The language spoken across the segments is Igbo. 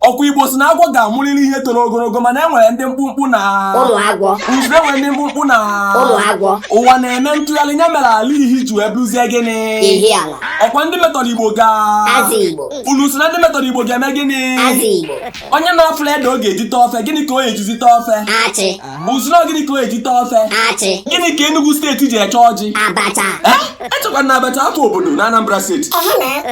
ọkwa igbo si na agwọ ga-amụrịrị ihe toro ogologo mana e nwere ndị mkpụmkpụ na ụmụ agwọ unu si na e nwere ndị mkpụmkpụ na ụmụ agwọ ụwa na-eme ntụgharị nya mere ala ihi ji wee bụzie gịnị Ihiala ọkwa ndị metọrọ igbo ga Azigbo unu si na ndị metọrọ igbo ga-eme gịnị Azigbo onye na-afụla ede ọ ga-eji tee ofe gịnị ka o ga-ejizi tee ofe achị Unu si na gịnị ka ọ ga-eji tee ofe? Achị. Gịnị ka Enugu steeti ji eche ọjị? Abacha. Eh? Echekwa na abacha akụ obodo na Anambra steeti.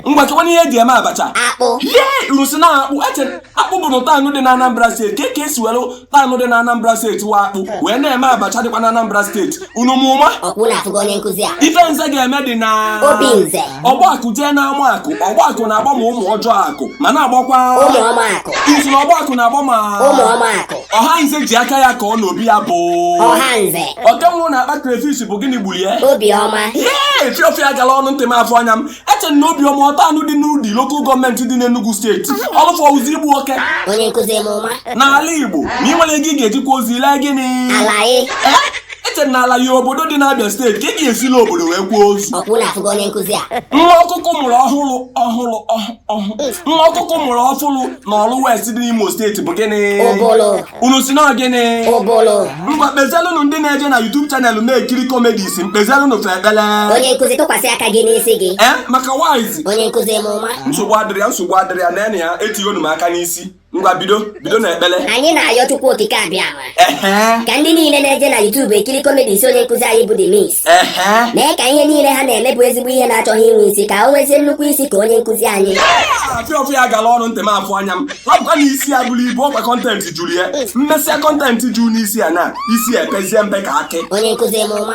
Ngwa chekwa n'ihe eji eme abacha. Akpụ. Ee unu si na akpụ ee Akpụ bụ otu town dị na Anambra steeti. Kee ka esi were town dị na Anambra steeti wụ Akpụ wee na-eme abacha dịkwa na Anambra steeti. unu mụma ọkpụ na-afụgo onye nkụzi a ife nze ga-eme dị na obi nze ọgbakụ jee n'ama akụ ọgbakụ na-agba ma ụmụ ọjọọ akụ ma na-agbakwa ụmụ ọma akụ unu si na ọgbakụ na-agba ma ụmụ ọma akụ ọha nze ji aka ya kụọ n'obi ya bụ ọha nze oke nwụrụ na akpa crayfish bụ gịnị gburu ya obi ọma ee fiọfịa gara ọnụ ntị m afọ anya m eche na obiọma town dị n'udi lokal gọọmenti dị n'Enugu steeti ọlụfọ ụzọ igbu oke onye nkụzi m ụma n'ala Igbo na ị nwere ego ị ga-ejikwa ozi lee gịnị Alayi Eh, eche na Alayi obodo dị n'Abia steeti ka ị ga-esila obodo wee kwuo ozu ọkpụ na-afụgo onye nkụzi a nwa ọkụkọ mụrụ ọhụrụ ọhụrụ ọhụ- ọhụ nwa ọkụkọ mụrụ ọfụrụ na Oru West dị n'Imo steeti bụ gịnị ụbụlụ unu si na gịnị ngwa kpezielụnụ ndị na-eje na YouTube chanel na-ekiri comedies kpezielụnụ fa ekpele onye nkụzi tụkwasị aka gị n'isi gị ee maka wise onye nkụzi mụma nsogbu adịrị ya nsogbu adịrị ya na ya etigonu m aka n'isi ngwa bido bido na ekpele anyị na-ayọ chukwu okike abịama ka ndị niile na-eje na YouTube ekiri comedies onye nkụzi anyị bụ The Mix mee ka ihe niile ha na-eme bụ ezigbo ihe na-achọghị inwe isi ka o nwezie nnukwu isi ka onye nkụzi anyị afịa ọfụ ya gara ọnụ ntị m afụ anya m ọ bụkwa na isi ya buru ibu ọkwa kọntentị juru ya mmesịa kọntentị juru n'isi ya na isi ya epezie mpe ka akị onye nkụzi m ụma